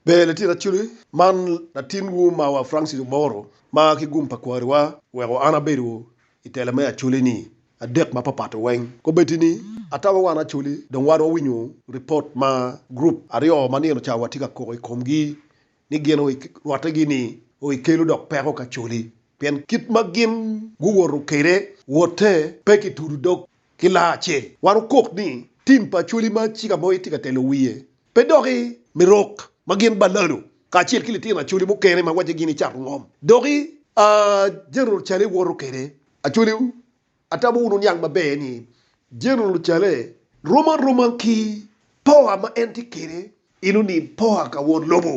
Ber latin Acoli, man latinwu ma wa Francis Oboro ma ki gum pa kwariwa weko an abedo i tela me Acoli-ni adek ma papato weng. Kobedi ni atamo wan Acoli dong wan wawinyo ripot ma gurup aryo ma nino ca watye ka koko i komgi ni gin rwattegi ni o i kelo dok peko ki Acoli pien kit ma gin guwoto kwede wotte pe ki tudo dog ki laa acel. Wan wukok ni tim pa Acoli ma ci ka mogo itye ka telo wiye Pe doki me rok ma gin balalo kacel ki litino Acholi mukene ma wacce gin icato ngom doki a General Chale woto kede. Acholi wu atamo wun wuniang maber ni General Chale rom aroma ki power ma en tye kede eno ni power ka won lobo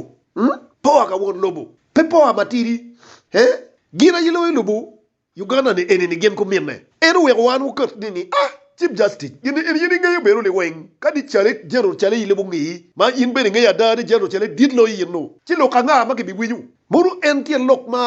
power ka won lobo pe power matidi he gin aye loyo lobo Uganda ni eni ni gin ku minne. En oweko wan wuket ni ni ah chief justice gin ni eni in ingeyo bene ni weng kadi cale general cale in lebu ngi ma in bene ingeyo ada ni general cale dit loyo in nu ci lok anga ma kibi winyo mono en tyen lok ma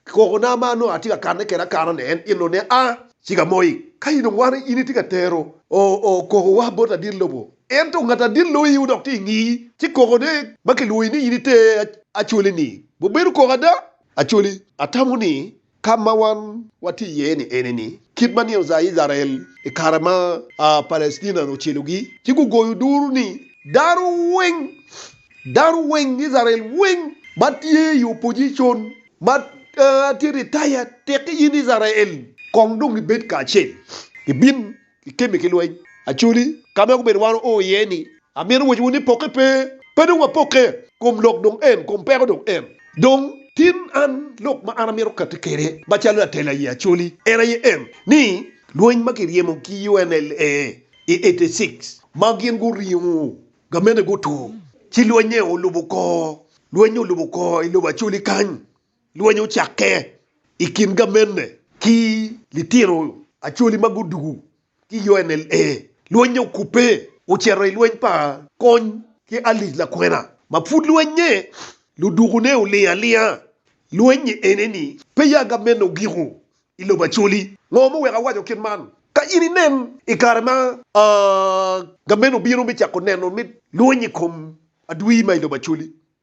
koko na ma nongo atye ka kane kede akana ni en in nu ne ah chiga moi ka in dong wan in itye ka tero o o koko wa bot adit lobo en to ngat adit loyi wu dok tye ingi ci koko ne ma kilwoyi ni in iter acholi ni bu bedo koko ada acholi atamo ni Ka ma wan watye iye-ni ene ni, kit ma nino ca Icrael i kare ma Palestina ocelogi ci gugoyo duru ni, Dano weng, dano weng, Icrael weng ma tye i opojicon, ma tye ritaya, tekki in Icrael, kong dong gibed kacel, gibin i kemi ki lweny. Actually, ka ma gubedo wan oo iye ni, amito wacciwu ni pokke pe, pe dong wapokke, kom lok dong en, kom peko dong en. Dong, tin an lok ma an amito kati kwede macalo latela aye actually en aye en, ni lweny ma kiryemo ki UNLA i eighty six ma gin guringo gamente guto, ci lweny-nge olubo kor, lweny-nge olubo kor i lobo actually kany. Lweny ocakke i kin gamenne ki litino Acholi ma gudugu ki UNLA. Lweny okubbe ocito i lweny pa kony ki alic lakwena ma pud lwenye ludukune oling alinga. Lweny ene ni pe ya gamenne ogiko i lobo Acholi. Ngo ma oweko awaco kit man? Ka in inen i kare ma gamenne obino me cako neno lweny i kom adwir ma i lobo Acholi,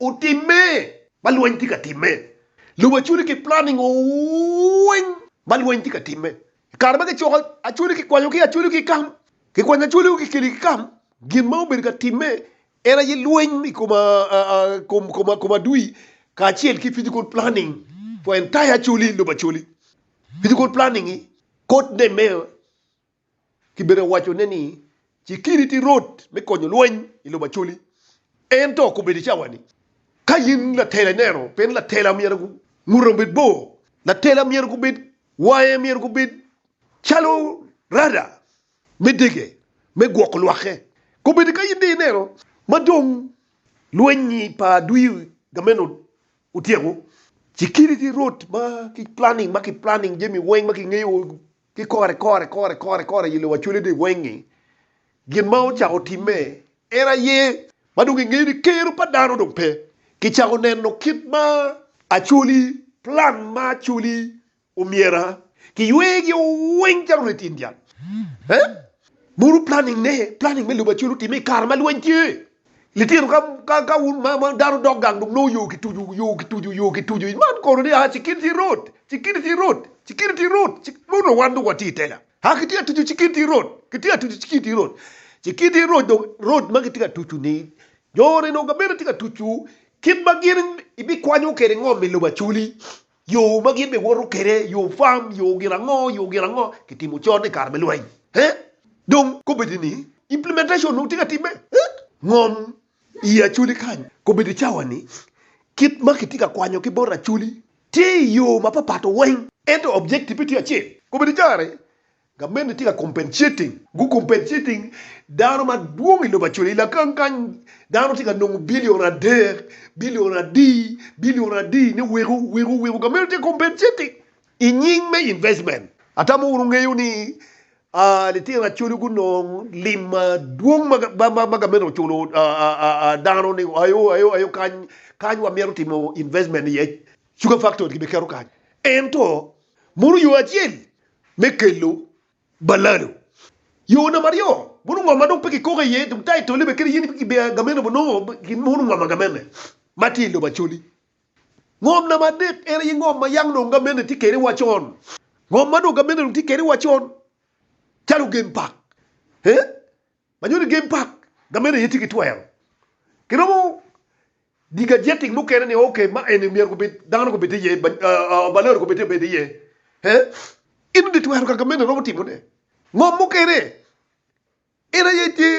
Otimme ma lweny tye ka timme. Lobo Acholi ki planning ooh weng ma lweny tye ka timme. I kare ma kicoko Acholi kikwanyo ki Acholi ki kam, kikwanyo Acholi kikeli ki kam, gin ma obedo ka timme en aye lweny i kom i kom adui kacel ki physical planning for entire Acholi, lobo Acholi. Physical planning-ngi kotne me. Kibene owacone ni, Cikiri ti rot me konyo lweny i lobo Acoli. Ento kobedi cawa-ni. Ka in latela ineno pien latela myero ngute obed bor, latela myero gubed wange myero gubed calo rada me dege me gwoko lwakke. Kobedi ka in dong ineno ma dong lweny pa adwi gameno otyeko, cikiri ti rot ma ki planning ma ki planning jami weng ma kingeyo Ki kore kore kore kore kore i lowa cwale dong wenge gin ma ocako timme en aye ma dong ingeyo ni kero pa dano dong pe. Kicako neno kit ma actually plan ma actually omyera kiywegi o weng calo reti in dyang. Buru planning ne, planning me lobo actually otimme i kare ma lweny tye. Litino ka ka wun ma ma dano dok gang dong nongo yo kitucu yo kitucu yo kitucu man kono ni a security road security road security road nongo dong wan dong watye i tela a kitye ka tucu security road kitye ka tucu security road security road dong road ma kitye ka tucu ni jo ni dong gabene tye ka tucu kit ma gin ibikwanyo kwede ngom i lobo acoli. Yo ma gin bene woto kwede, yo farm, yo gin ango, yo gin ango, kitimo con i kare me lweny. Hee? Dong kobedi ni implementation onongo tye ka timme? Hee? Ngom i Acholi kany kobedi cawa ni kit ma kitye ka kwanyo ki bot Acholi tye i yo mapapat weng ento objective-pe tye acel. Kobedi kare Gamente tye ka compensating, gu compensating dano madwong i lobo acel. I lakan kany dano tye ka nongo billion adek, billion adi, billion adi ni weko, weko, weko. Gamente tye ka compensating i nying me investment. Atamo wun wungeyo ni aa, litino Acholi gunong lim madwong ma, ma, ma gamente oculo aa, aa, dano ni ayo, ayo, ayo kany, kany wamyero timo investment iye. Sugar factory gibiketo kany. Ento, mono yo acel me kelo balado. Yo namba aryo, mono ngo ma dong pe kikoka iye dong taitolli bene kadi yen pe kibiyo agamene bo nongo mono ngom agamene ma tye i lobo Acholi. Ngom namba adek en aye ngom ma yam dong gamene tye kede wa con. Ngom ma dong gamene dong tye kede wa con calo gen pak. ma nyo ni game park gamente aye tye ki twero. Kiromo diga jetting mukene ni ok ma eni myero gubed dano gubed iye balori gubed obed iye in odi twero ka gamente romo timo ne ngom mukene en aye tye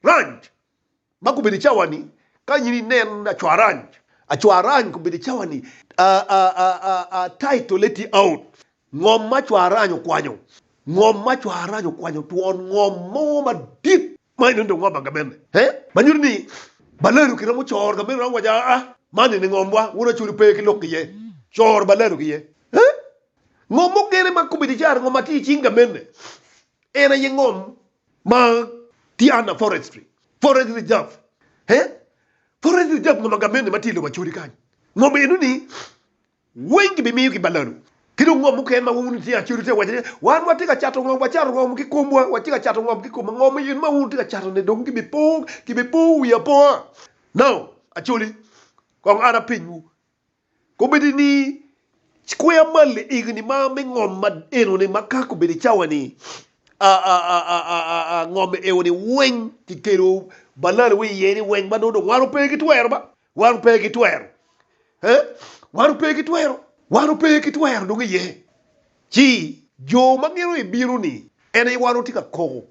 ranch. Ma gubedo i cawa-ni, kanyit inen acwarany. Acwarany gubedo i cawa-ni, a, a, a, a, a, taitole tye out. Ngom ma acwarany okwanyo, ngom ma acwarany okwanyo twon ngom mo madit, ma enoni dong ngom agamene, he, ma nyuto ni baladu kiromo coro gamene, iromo waco, a, a, man eni ngomwa, wun acwelu pe ki lok iye, coro baladu ki iye. He, ngom mukene ma gubedo i cara, ngom ma tye i cing gamene, en aye ngom Ma Tiana Forestry, Forest Reserve, he, Forest Reserve ma Magamendi ma tye i lobo Acholi kany. Ngom eno ni weng ki bimiyo ki balalu. Ki dong ngom mukene ma wun itye Acholi tye ka waco ni wan watye ka cato ngom, wacato ngom ki komwa, watye ka cato ngom ki komwa. Ngom eno ma wun wutye ka cato ni dong ki bi po, ki bi po wi apoa. Now, Acholi, kong ara pinywu. Kombeddi ni kweya mal i egni ma me ngom ma eno ni ma ka kombeddi cawa ni a a a a a a a ngom eo ni weng ki kelo balal wi iye ni weng ma do dong wan ope ki twero ba wan ope ki twero he wan ope ki twero wan ope ki twero dong iye ci jo ma giro i biro ni ene wan otye ka koko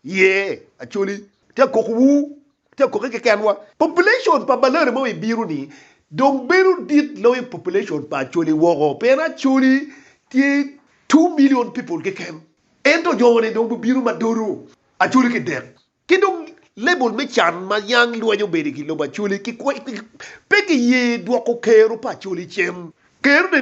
Ye, Acholi, te akok wu, te akokke kekenwa. Population pa Balere mo i biro ni dong bedo dit loyo population pa Acholi woko, pien Acholi tye two million people keken, ento jo ni dong gubino ma dodo Acholi ki dek. Ki dong level me can ma yang lweny obedi ki lobo Acholi, pe ki ye dwoko kero pa Acholi cen. Kero ni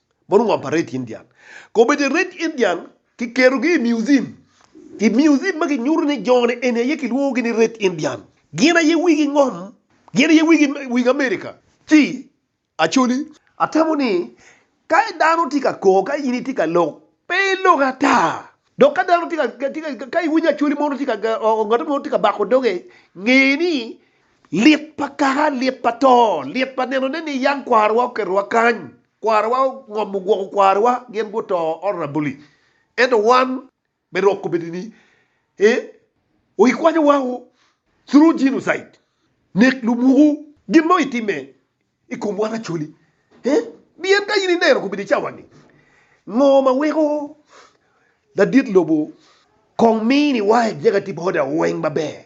Mono ngom pa Red Indian. Komiti Red Indian kiketo-gi i museum. I museum ma kinyuto ni jo-ni eni aye kilwongogi ni Red Indian. Gin aye wigi ngom. Gin aye wigi wing Amerika. Ci, Acholi, atamo ni ka dano tye ka kor, ka in itye ka lok, pe ilok ata. Dok ka dano tye ka, ka iwinyo Acholi mono tye ka, ngat mo tye ka bako doge, nge ni, Lit pa kaka, lit pa to, lit pa nenone ni yam kwarowa oketowa kany, kwarowa ongomo gwoko kwarowa, gin guto orabuli. Ento wan, me rok kobedi ni, ee, o ikwanyo wa o, through genocide, nek lumukwu, gin mo itime i kom wan actually, ee, pien ka in ineno kobedi cawa ni, ngo ma weko ladit lobo kong mini wa executive order weng maber,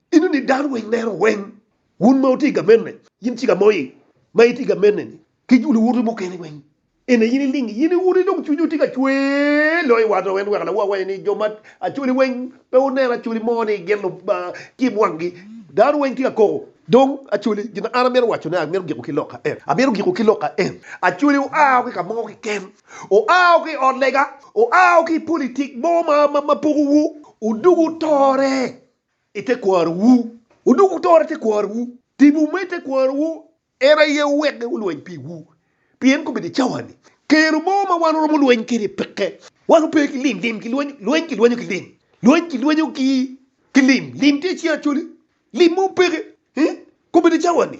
Ineno ni dano weng lero weng. Wun ma wutye ka mene, in cika moi ma itye ka mene ni ki luwote mukene weng ene in iling in iwuti dong cwinyi tye ka cwer loyo wat oo en weko lawa waci ni jo ma acholi weng pe wuneno acholi mo ni gin lutim wangi dano weng tye ka koko dong acholi gin ma an amito waco ne amito giko ki loka en amito giko ki loka en acholi oa o ki kamo kiken oa o ki ot lega oa o ki politik mo ma ma pogo wu odugu tore i tekwarowu, wudok wutor i tekwarowu, tipo me tekwarowu en aye wuwek wulweny piwu, pien kobedo i cawa-ni, kero mo ma wan waromo lweny kwede peke. Wan wape ki lim, lim kilwenyo, lweny kilwenyo ki lim, lweny kilwenyo ki lim, lim tye i cing Acholi, lim mo peke, kobedo i cawa-ni.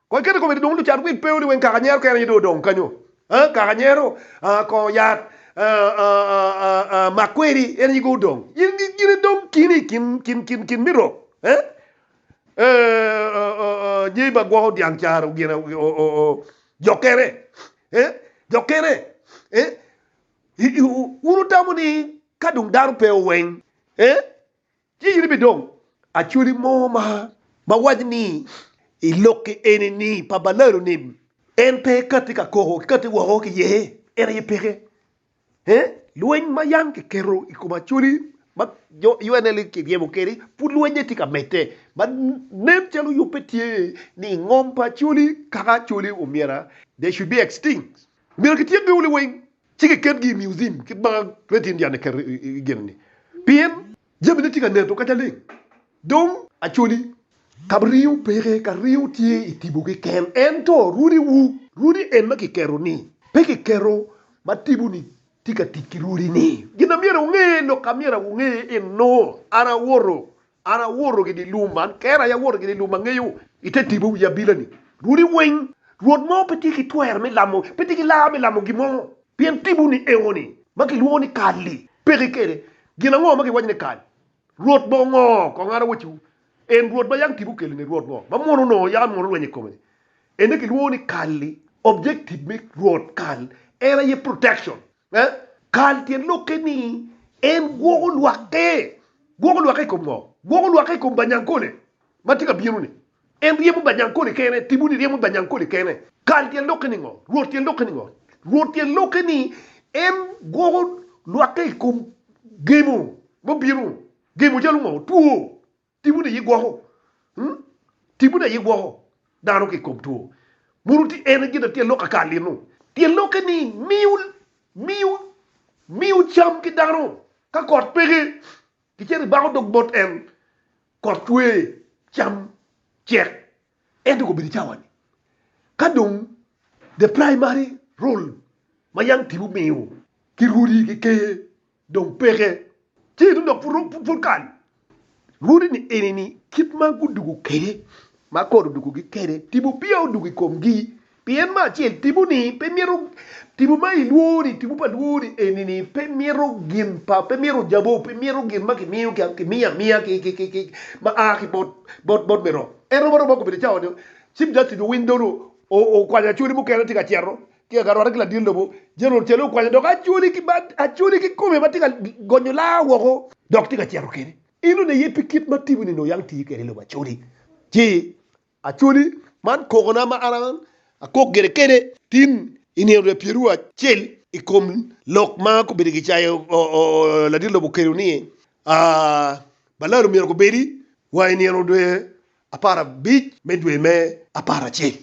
Kong iketo komedi dong lucat wil peyo ni weng kaka nyero kene aye dong odong kanyo aa kaka nyero aa kongo yat aa aa mak kweri en aye go odong in gin idong kini ikin kin kin kin me rok ee ee oo nyeyi ma gwoko dyang caro gin oo oo jo kene ee jo kene ee i i wun wutamo ni kadong dano peyo weng ee. Ci in ibidong acholi mo ma ma waco ni i lokke eni ni pa balalo ni en pe kati ka koko ki kati woko ki iye, en aye peke. He, lweny ma yam kiketo i kom acholi ma jo UNL kiryemo kwede pud lwenye tye ka medde ma nen calo yub pe tye ni i ngom pa acholi kaka acholi omyero they should be extinct. Omyero kityekgi wunu weng. ci kiketgi i miuziam kit ma Great Indian eketo i gin-ni, pien jamine tye ka neno kacce leng. Dong Acholi, ka ringo peke, ka ringo tye i tipo keken, ento rwodiwu, rwodi en ma kiketo-ni, pe kiketo ma tipo-ni tye ka tic ki rwodi-ni. Gin na myero wunge, lok amyero wunge eno, an awoto. An awoto gidi i lum man, kera aye awoto gidi i lum angeyo, i te tipo wi abila-ni. Runi weng, Rwot mo pe tye ki twero me lamo, pe tye ki laa me lamo gin mo, pien tipo-ni eno-ni, ma kilwongo ni kal-li, peki kede. Gin ango ma giwaco ni kal? Rwot mo ngo? Kong an awacciwu, en Rwot ma yang tipo okelo-ni, Rwot ngo ma mwono onongo yam mwono lweny i kome-ni? En aye kilwongo ni kal-li, objective me Rwot kal en aye protection. Eh? Kal tyen lokke ni en gwoko lwakke. Gwoko lwakke i kom ngo? Gwoko lwakke i kom Banyankole ma tye ka bino-ni. En ryemo Banyankole kene, timoni ryemo Banyankole kene. Kal tyen lokke ni ngo? Rwot tyen lokke ni ngo? Rwot tyen lokke ni en gwoko lwakke i kom gemo mubino. Gemo calo ngo? Two. Timone aye gwoko, timone aye gwoko dano ki i kom two. Mono tye en gin ma tye lok aka lino? Tye lokke ni miyo, miyo, miyo cam ki dano. Ka kot peke, kicito ibako dog bot en, kot cwe, cam cek. Ento kobedo i cawa-ni, ka dong the primary role ma young tipo miyo ki rwodi ki ker, Dong peke tye tung dok pud kany. Lwoti ni eni ni kit ma gudugo kwede, ma kor odugogi kwede, tipo peya odugo i komgi. Pien me acel, tiponi pe mito, tipo ma ilwori, tipo pa lwori eni ni pe mito gin pa, pe mito jabo, pe mito gin ma kimiyo, kimiyo amiya ma a ki bot me rok. En romo aroba gubedo cawa ni Chief Justice Owiny Dollo okwanyo acholi mukene tye ka cito ki agarwate ki ladit lobo jami ocele okwanyo dok acholi kikome matye ka gonyo laa woko dok tye ka cito kene in nongo aye pi kit ma atimo ni nongo yang tiyo kede lobo acholi ci acholi man kokona ma an akok gire kede tin i nino dwe pyeru acel i kom lok ma gubedo gicayo ladit lobo kede ni balalo myero gubedi wa i nino dwe aparabic me dwe me aparacel,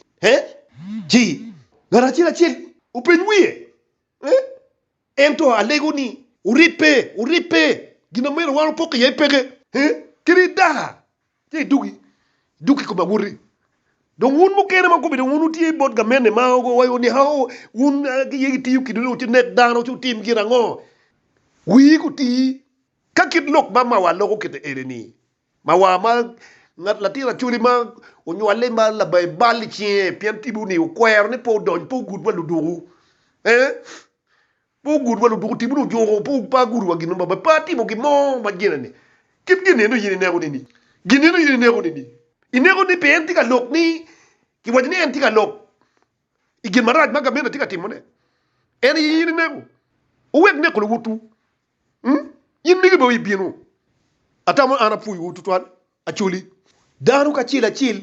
ci ngat acel acel openy wiye, ento alego ni, Wuribbe, wuribbe, gin ma myero wan opok iye peke, kadi i daka, ci idug i kom abuti. Dong wun mukene ma gubedo wun wutye bot gamente ma owaco ni, Aoo, wun aye wutiyo kidwu ni wunek dano ci wutim gin ango? Wii guti, ka kit lok ma mawa loko kite eni-ni, Ma wa ma ngat latin Acholi ma onywale ma labaye bal i cinge pien tibu ni okwero ni pe odony pe ogud wa luduku eh pe ogud wa luduku tibu ni ojuko pe pe agudu wa gin mo pe atimo gin mo ma gene ni kit gin eno in ineko ni ni gin eno in ineko ni ni ineko ni pe en tye ka lok ni ki waco ni en tye ka lok i gin marac ma gamente tye ka timone en aye in ineko owek neko luwotwu In mege bene ibino? Atamo an apwoyowu tutwal, Acholi, dano kacel acel,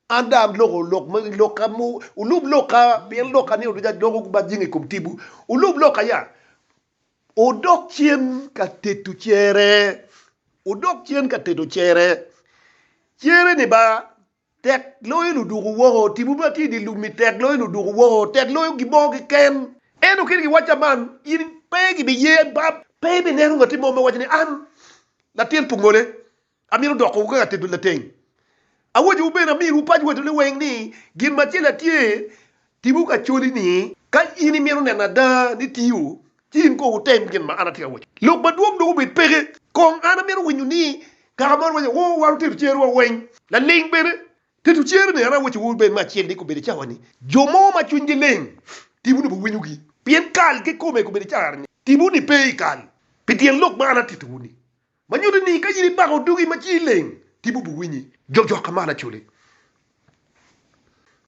an dong aloko lok ma lokka mo, wulub lokka, pien lokka ni oduca doko ku bajinga i kom tibwu. Wulub lokka ya, wudok cen ka teto cere, wudok cen ka teto cere, cere ni ba. Tek loyo luduku woko. Timwu ma tye i dye lum-mi tek loyo luduku woko, tek loyo gimo kiken. Ento kit giwacca man, in pe gibiye bab. Pe ibineno ngat mo ma waco ni, 'An latin pu ngole, amito doko kaka atedo lateng. Awacciwu bene, amirowu pac wotone weng ni, gin macel atye, Timwu ka coli ni, Ka in imito neno ada ni tiyo, ci in kono wutem gin ma an atye ka waco. Lok madwong dong obed peke. Kong an amito winyo ni, Kaka mon waco, Woo, wan otedo cerowa weng. Laling bene, tedo cero ni an awacowu bene me acel ni kobedi cawa ni, jo mo ma cwinygi leng, timwu ni pe winyogi. Pien kal kikome kobedi caro ni, timwu ni pe i kal, pi tyen lok ma an atitowu ni. Ma nyuto ni, ka in ibako dugi ma ci ileng, timwu bi winyi. Jok jok ka malo acoli.